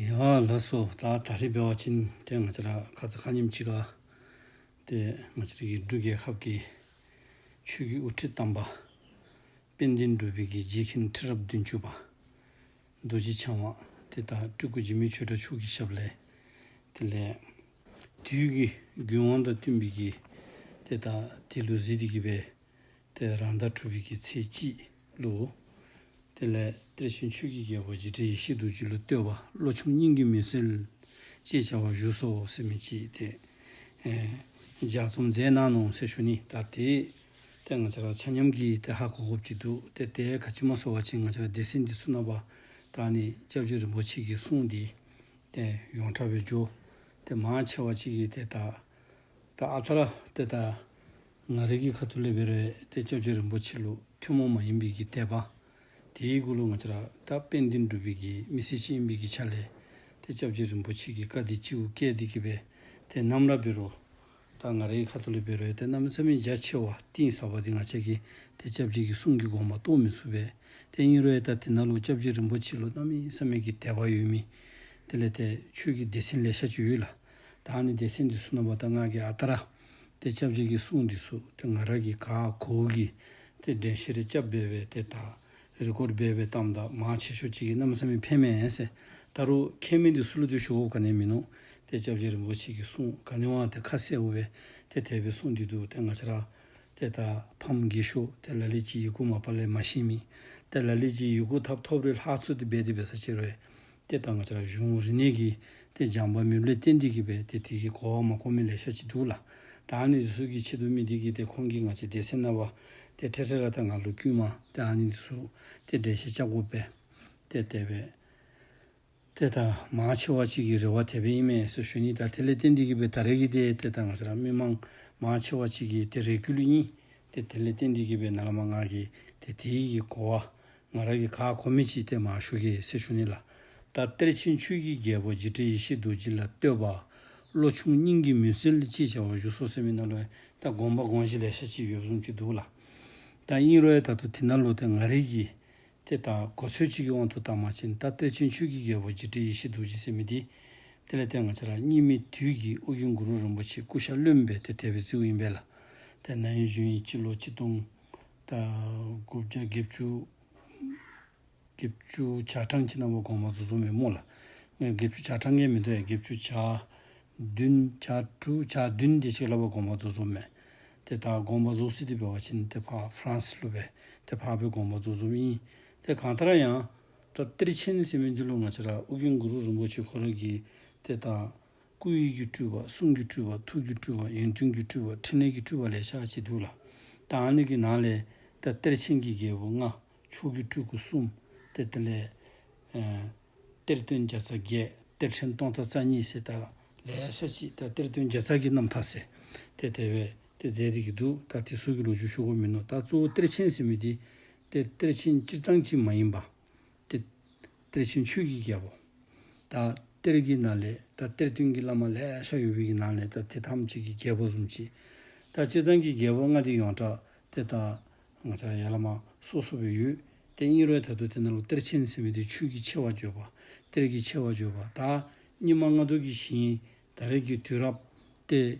ཡཱ་ལཱ་སོ་ད་ད་རི་བེ་བ་ཅིན་དེ་ང་ཅི་ར་ཁ་ཙི་ཁ་སྙེམས་ཅི་ག་དེ་ང་ཅི་རི་གི་འབྲུ་རྒྱལ་ཁབ་ཀྱི་ཆོས་ཀྱི་དབུ་ཁྲིད་དམ་པ་དཔལ་ལྡན་འགྲུལ་པའི་གིས་རྗེ་ཁིན་ཁྲི་རབས་བདུན་ཅུ་པ་རྡོ་རྗེ་འཆང་བ་དེ་ད་སྤྲུལ་སྐུ་འཇིགས་མེད་ཆོས་གྲྭ་ཕྱུག་གི་ཞབས་ལས་དེ་ལས་དུས་ཀྱི་རྒྱུན་དབང་དང་བསྟུན་པའི་གིས་དེ་ད་དེ་ལུ་ཟི་དི་གི་བའི་དེ་རང་ཟླ་དྲུག་གི་ཚེས་གཅིག་ལོ། དེ་ལས་གཏེར་ཆེན་ཆོས་ཀྱི་རྒྱལ་པོ་རྗེ་དྲི་ཡི་ཤིས་དུག་ཅི་ལོ་བསྟོད་པ་བློ་ཆུང་སྙིང་གི་མུན་སེལ། ཅེས་བྱ་བ་བཞུགས་སོ་སེམས་མི་སྐྱིད་དེ། ལྗགས་རྩོམ་མཛད་གནང་ནོངས་སེ་ཞུ་ནི་ད་དེ། དེ་ང་ཅག་ར་ཆ་མཉམ་གྱིས་དེ་ཧ་གོ་གོ་བགྱིད་འདུག་དེ་ལྟའི་ག་ཕྱི་མ་གསོ་བ་ཅན་ང་ཅག་སྡེ་སྲིད་འདི་སུ་ན་བ་དག་ནི་ལྕགས་ཀྱུ་རིན་པོ་ཆེ་གི་གསུང་འདི། དེ་ཡོངས་གྲགས་པའི་ཇོ། དེ་མང་ཆེ་བ་ཅིག་གིས་དེ་དག། ད་ཨ་ཐ་ར་དེ་དག། ང་རིག་གི་ཁ་ཐུ་ལེ་བེར་བས་ཏེ་སྐྱབས་ཆོས་རིན་པོ་ཆེ་ལུགས་ཐུན་མོང་མ་ཡིན་པའི་གི་དད་པ། དེའི་སྐུ་ལུགས་ང་ཅི་ར་ཀ་དཔལ་འདི་འགྲུབ་པའི་གི་མི་སེར་ཅི་ཡིན་པའི་གི་ཆ་ལས། ཏེ་སྐྱབས་ཆོས་རིན་པོ་ཆེ་གི་བཀའ་འདི་ཅིའུ་སྐད་འདི་གི་བས་ཏེ་རྣམ་ར་བེར་རོ། ད་ང་རིག་གི་ཁ་ཐུ་ལེ་བེར་བས་ཏེ་རྣམ་ཚ་མི་འཇའ་ཆེ་བ་གཏིང་ཟབ་པ་འདི་ང་བྱས་གི་ཏེ་སྐྱབས་ཆོས་ཀྱི་གསུང་གི་དགོངས་པ་རྟོགས་མི་ཚུགས་པས་ཏེ་གཉིས་རོའི་ད་དེ་ན་ལུགས་སྐྱབས་ཆོས་རིན་པོ་ཆེ་ལུགས་རྣམ་གཡེང་ས་མེད་གི་དད་པ་ཡོད་མིན། དེ་ལས་ཏེ་ཆོས་ཀྱི་སྡེ་ཚན་ལས་ཤ་བཅུ་ཡོད་ལ། ད་ནི་སྡེ་ཚན་འདི་སུ་ན་བ་ད་སྔགས་ཀྱི་ཨ་ཏ་ར། དེ་ཆབ་བྱེད་ཀྱི་གསུང་འདི་སུ་དེ་ང་ར་གི་ག་གོ་འུ་གི་དེ་འདྲེན་ཤེས་རེ་སྐྱབས་སྦས་པའི་དེ་དག་རི་སྐོར་སྦས་པའི་གཏམ་དག་མ་བྱེད་ཤོག་ཅིག་གི་རྣམ་སེམས་མི་ཕན་མེད་སེ་ད་རུ་ཁྱེད་མི་འདི་སུ་ལ་འདུས་ཤོག་འུ་ག་ནས་མིན་ནོ་དེ་ཆབ་བྱེད་རིན་པོ་ཆེ་ཀྱི་གསུང་ག་ནས་བང་དེ་ཁ་གསལ་འུ་བས་དེ་དད་པའི་གསུང་འདི་འདུག་དེ་ང་ཆ་ར་དེ་ད་ཕམ་དགྱེས་ཤོག་དེ་ལ་ལི་ཅི་ཡི་གུ་མ་པ་ལས་མ་ཤེས་མིན་དེ་ལ་ལི་ཅི་ཡི་གུ་ཐབ་ཐོབ་རེ་ལྷག་ཚུལ་དེ་སྦས་དེ་བས་ས་ཆེར་བས་དེ་དང་ཆ་གཞུང་རིག་གནས་ཀྱི་དེ་སྦྱངས་པ་མི་ལུས་ཏན་ཏིག་གི་བས་དེ་དེ་གི་གོ་བ་མ་གོ་མི་ལས་ཤ་ཅི་འདུག་ལ། དང་ནི་འདི་གཟུགས་ཀྱི་ཆེད་དུ་མི་དེ་གི་དེ་ཁོང་གིས་ང་ཅི་དེ་སེམས་ན་བ། དེ་ཁྲེ་ཁྲེ་ར་ད་ང་ལུ་དཀྱུས་མ་དེ་ཨང་ནི་འདི་གཟུགས་དེ་འདྲས་ཤེས་བྱ་གོ་བས། དེ་དེ་བས། དེ་དང་མ་ཕྱི་བ་གཅིག་གི་རེ་བ་དེ་བས་ཨི་མེད་ས་ཞུ་ནི་ད་དེ་ལས་ཏན་ཏིག་གི་བས་ད་རེ་གི་དེ་དེ་དང་ཆ་ར་མི་མང་མ་ཕྱི་བ་གཅིག་གི་དེ་རེ་གུ་ལུ་གཉིས་དེ་དེ་ལས་ཏན་ཏིག་གི་བས་ན་ལ་མ་ང་གི་དེ་དེ་གི་གོ་བ་ང་རང་གི་ཁ་ཁོ་མི་གཅིག་སྟེ་མ་ཤུ་ཀའི་སྲས་ཤུ་ནི་ལ། ད་གཏེར་ཆེན་ཆོས་ཀྱི་རྒྱལ་པོ་རྗེ་ཁྲི་ཡེ་ཤེས་རྡོ་རྗེ་ལ་བསྟོད་པ། བློ་ཆུང་སྙིང་གི་མུན་སེལ་ཅེས་བྱ་བ་བཞུགས་སོ་ཟེར་མི་སྣ་ལོའི་ད་དགོངས་པ་དགོངས་གཞི་ལས་ཤ་གཅིག་ཡོད་གསུངས་ཀྱི་འདུག་ལ། ད་སྙིང་རོའི་ད་དུ་དེ་ན་ལོ་དེ་ང་རིག་གི། དེ་ད་གོ་ཚོད་གཅིག་གི་དབང་དུ་ད་མ་ཕྱིན་ད་གཏེར་ཆེན་ཆོས་ཀྱི་རྒྱལ་པོ་རྗེ་ཁྲི་ཡེ་ཤེས་རྡོ་རྗེ་སྲས་མི་འདི། དེ་ལས་དེ་ང་ཅག་ལ་སྙིང་མི་དུས་ཀྱི་དབུ་རྒྱུན་གུ་རུ་རིན་པོ་ཆེ་སྐུ་ཤ་བློན་པའི་དེ་དད་པའི་རྩིའུ་ཡིན་པས་ལ། དེ་ན་ཡུན་བཞུན་ཡིན་སྤྱི་ལོ་ཆིག་སྟོང། དགུ་བརྒྱ་དགེ་བཅུ། དགེ་བཅུ་བྱ་གྲངས་ཁྱི་ནག་པོ་གོང་མ་རྫུ་འཕྲུལ་མི་མོ་ལ། དགེ་བཅུ་བྱ་གྲངས་ངན་མི་འདོད་ཡ་དགེ་བཅུ་བྱ། བདུན་བྱ་དྲུག་བྱ་བདུན་བདེ་གཤེགས་བླ་པོ་གོང་མ་རྫུ་འཛོམ་མས། དེ་དག་དགོངས་པ་རྫོགས་སྲིད་འདི་པའི་བ་ཕྱིན་ཏེ་འཕགས་ཧྥ་རན་སི་ཀླུ་པའི་དེ་འཕགས་པའི་དགོངས་པ་རྫོགས་འཛོམ་ཡིན། དེ་གང་ལྟར་ཡང། ཏོ་གཏེར་ཆེན་ནི་སེམས་དཔའི་འདུལ་ལོ་ང་ཕྱི་ར་ཨུ་གིང་གུ་རུ་རིན་པོ་ཆེ་འཁོར་ལོ་གྱིས་དེ་དང། སྐུའི་དབྱིབས་ཀྱི་སྤྲུལ་པ་གསུང་གི་སྤྲུལ་པ་ཐུགས་ཀྱི་སྤྲུལ་པ་ཡོན་ཏན་གྱི་སྤྲུལ་པ་ཕྲིན་ལས་ཀྱི་སྤྲུལ་པ་ལས་ཕྱག་བྱས་འདུག་ལ། དང་སྣོད་ཀྱི་ནང་ལས། ད་གཏེར་ཆེན་གྱི་རྒྱལ་པོ་ལྔ། མཆོག་གི་སྤྲུལ་སྐུ་གསུམ། ཏེ་ཏེ་ལས། གཏེར་སྟོན་བརྒྱ་རྩ་བརྒྱད། གཏེར་ཆེན་སྟོང་རྩ་རྩ་གཉིས་བྱས། ད་ལས་ཕྱག་གཅིག་ད་གཏེར་སྟོན་བརྒྱ་རྩ་བརྒྱད་རྣམས་དག། ཏེ་ཏེ་བས། ཏེ་རྫས་འདི་གྱིས་འདུག་ད་དེ་གཟུགས་ཀྱི་ལོ་ཆུང་ཤོག་བུ་མིན་ནོ་ད་གཙོ་བོ་གཏེར་ཆེན་ཟེར་མི་དེ། ཏེ་གཏེར་ཆེན་སྤྱིར་བཏང་སྤྱི་མ་ཡིན་པ། ཏེ། གཏེར་ཆེན་ཆོས་ཀྱི་རྒྱལ་པོ། ད་གཏེར་གྱི་ནང་ལས་ད་གཏེར་སྟོན་གྱི་བླ་མ་ལས་ཤ་ཡོ་བི་གྱི་ནང་ལས་ད་དེ་ཐམས་ཅད་ཀྱི་རྒྱལ་པོ་གསུམ་གྱིས། ད་སྤྱི་དང་གི་རྒྱལ་པོ་ལྔ་དེ་ཡོངས་གྲགས་ཏེ་ད། ང་ཚ་ཡ་བླ་མ་སོ་སོ་བའི་ཡུལ་ཏེ་སྙིགས་རོའི་དལ་དུ་དེ་ནང་ལོ་གཏེར་ཆེན་ཚེ་མེ་དེ་ཆོས་ཀྱི་ཆེ་བ་བརྗོད་པ། གཏེར་གྱི་ཆེ་བ་བརྗོད་པ་ད། སྙི་མ་ལྔ་དུ་གྱི་ཞིང། ད་རིགས་ཀྱི་དུས་རབས་ཏེ།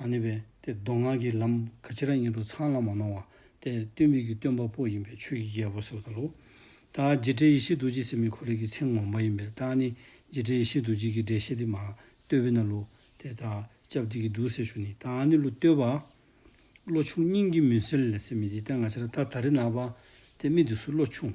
ཨ་ནི་བས་ཏེ་མདོ་སྔགས་ཀྱི་ལམ་ག་ཅི་ར་ཉིད་དུ་ཚང་ལ་མ་གནང་བ་སྟེ་སྟོན་མི་གི་སྟོན་པ་པོ་ཡིན་པས་ཆོས་ཀྱི་རྒྱལ་པོ་ཟེར་བ་ལྟ་ལོ། ད་རྗེ་ཁྲི་ཡེ་ཤེས་རྡོ་རྗེ་སེམས་མི་ཁོ་རེ་གི་ཚེ་ངོམ་པ་ཡིན་པས་ད་ནི་རྗེ་ཁྲི་ཡེ་ཤེས་རྡོ་རྗེ་གི་འགྲེལ་བཤད་དེ་མ་བསྟོད་བས་ན་ལུ་དེ་ད་ཅབ་དེ་གི་འདུག་ཟེར་ཞུ་ནི་ད་ནི་ལུ་བསྟོད་པ། བློ་ཆུང་སྙིང་གི་མུན་སེལ་ལས་སེམས་མི་དེ་ལྟ་ང་ཅི་ར་ད་ད་རི་ན་བ་དེ་མི་དེ་སུ་བློ་ཆུང།